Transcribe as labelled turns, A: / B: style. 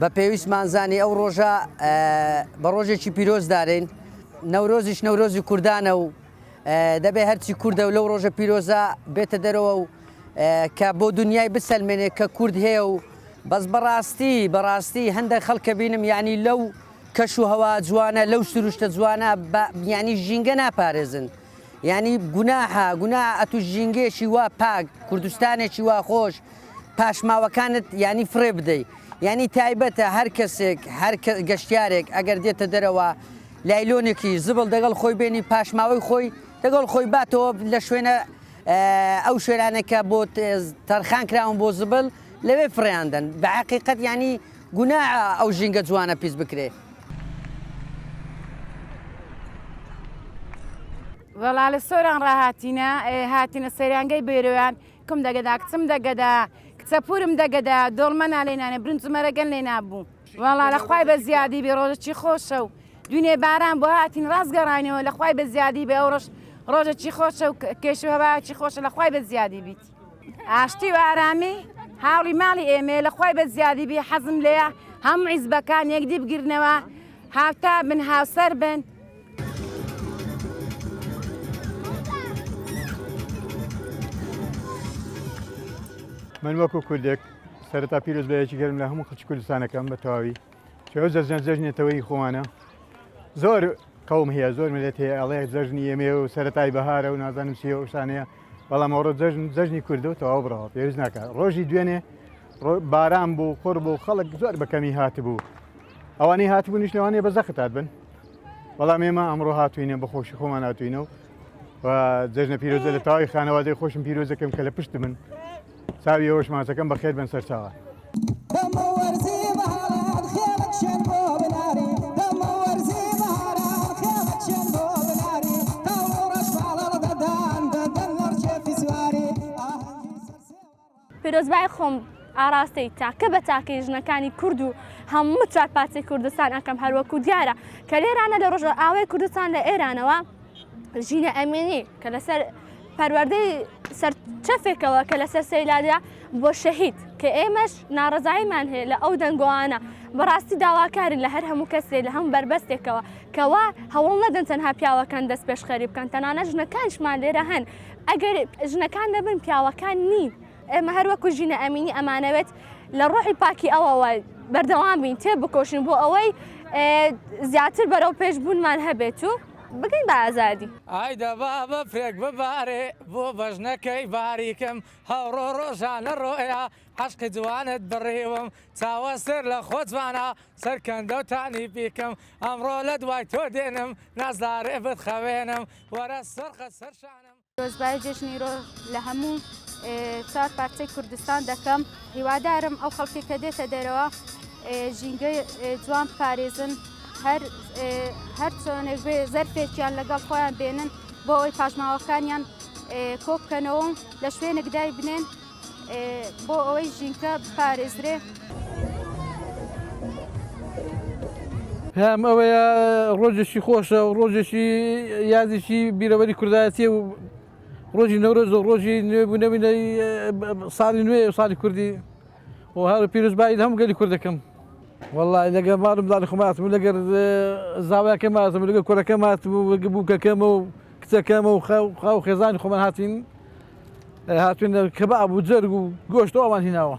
A: بە پێویستمان زانی ئەو ڕۆژە بە ڕۆژێکی پیرۆز دارین نەورۆزیش نەورۆزی کوردانە و دەبێ هەرچی کوردە و لەو ڕۆژە پیرۆزە بێتە دەرەوە و کە بۆ دنیای بسەلمێنێ کە کورد هەیە و بەس بەڕاستی بەڕاستی هەندێک خەڵکە بینم یعنی لەو کەش و هەوا جوانە لەو سروشتە جوانە بیانی ژینگە ناپارێزن یانی گوناحە گوناحە ئەتوو ژینگەیەکی وا پاک کوردستانێکی وا خۆش پاشماوەکانت یانی فڕێ بدەیت یانی تایبەتە هەر کەسێک هەر گەشتارێک ئەگەر دێتە دەرەوە لایلۆنێکی زبڵ دەگەڵ خۆی بێنی پاشماوەی خۆی دەگەڵ خۆی باتەوە لە شوێنە ئەو شوێنانێکە بۆ تەرخان کراون بۆ زبل لەوێ فڕیاندن بە عقیقەت ینی گوناحە ئەو ژینگە جوانە پیس بکرێ.
B: وەڵا لە سۆران ڕاهاتینە هاتینە سەیرانگەی بێرۆیان کم دەگەدا کچم دەگەدا کچە پورم دەگەدا دۆڵمەنا لێنانێ برنجمەرەگەن لێ نابوو وەڵا لە خوای بە زیادی بێ ڕۆژەکی خۆشە و دونێ باران بۆ هاتین ڕاستگەڕانەوە لە خوای بە زیادی بێ ئەو ڕۆژ ڕۆژەکی خۆشە و کێش و هەواکی خۆشە لە خوای بە زیادی بیت. ئاشتی و ئارامی هاوڵی ماڵی ئێمەیە لە خۆی بە زیادی بێ حەزم لێە هەم عیزبەکان یەکدی بگرنەوە هاوتا بن هاوسەر بن
C: من وەکو کوردێک سەرتا پیرۆز بەیەکی گەرم لە هەموو خچ کوردستانەکەم بە تەواوی چۆ جەژنە جەژنێتەوەی خۆمانە زۆر قوم هەیە زۆر ملێت هەیە ئەڵەیە جەژنی ئەمێ و سەرای بەهارە و نازانم سیەوە شانەیە بەڵام ئەوڕۆ جەژن جەژنی کوردە و تەواو بڕەوە پێویست ناکات ڕۆژی دوێنێ باران بوو قڕ بوو خەڵک زۆر بەکەمی هاتبوو ئەوانەی هاتبوو نیش لەوانێ بە زەختات بن بەڵام ئێمە ئەمڕۆ هاتوینە بە خۆشی خۆمان هاتوینەوە و جەژنە پیرۆزە لە تاوای خانەوادەی خۆشم پیرۆزەکەم کە لە پشت من چاوی ئەوەش ماچەکەم بەخێر بێن سەرچاوە.
D: پیرۆزبای خۆم ئاراستەی تاکە بە تاکەی ژنەکانی کورد و هەموو چاکپاتی کوردستان ئەکەم هەروەکو دیارە کە لێرانە لە ڕۆژە ئاوای کوردستان لە ئێرانەوە ژینە ئەمێنی کە لەسەر پەروەردەی سەرچەفێکەوە کە لەسەر سەیلانیا بۆ شەهید کە ئێمەش ناڕزایمان هەیە لە ئەو دەنگۆانە بەڕاستی داواکارین لە هەر هەموو کەسێ لە هەم بەربەستێکەوە کەوا هەوڵ نەدەن تەنها پیاوەکان دەست پێشخەری بکەن تەنانە ژنەکانشمان لێرە هەن ئەگەر ژنەکان دەبن پیاوەکان نین ئێمە هەروەکو ژینە ئەمینی ئەمانەوێت لە ڕۆحی پاکی ئەوەوە بەردەوام بین تێ بکۆشن بۆ ئەوەی زیاتر بەرەو پێش بوونمان هەبێت و بگەین بە ئازادی. ئای دە با
E: بەفرێک ببارێ بۆ بەژنەکەی باریکم هەوڕۆ ڕۆژانە ڕۆیا عەشقی جوانت بڕیوم چاوە سێر لە خۆ جوانە سەرکەندەو تانی بیکم ئەمڕۆ لە دوای تۆ دێنم نازارێ بتخەوێنم وەرە سەر قەد سەر شانم پیرۆزبایی جەژنی
B: رۆ لە هەموو چوار پارچەی کوردستان دەکەم هیوادارم ئەو خەڵکی کە دێتە دەرەوە ژینگە جوان پارێزن هەر هەر چۆنێک بێ زەرفێکیان لەگەڵ خۆیان بێنن بۆ ئەوی پاشماوەکانیان کۆبکەنەوە لە شوێنێکدای بنێن بۆ ئەوەی ژینکە
F: بپارێزرێ. پێم ئەوەیە ڕۆژێکی خۆشە و ڕۆژێکی یادێکی بیرەوەری کوردایەتی و ڕۆژی نەورۆز و ڕۆژی نوێبوونەوینەی ساڵی نوێ و ساڵی کوردی و هەر پیرۆزبایی هەم گەلی کورد دەکەم والله لەگە مارم داڵی خماتم لەگەر زاوایەکە ماتم لەگە کوڕەکە ماتم و بووکەکەمە و کچەکەم و خاو و خێزانی خۆمان هاتین هاتوین کە بە ئەبوو جەرگ و گۆشت و ئەوان هیناوە.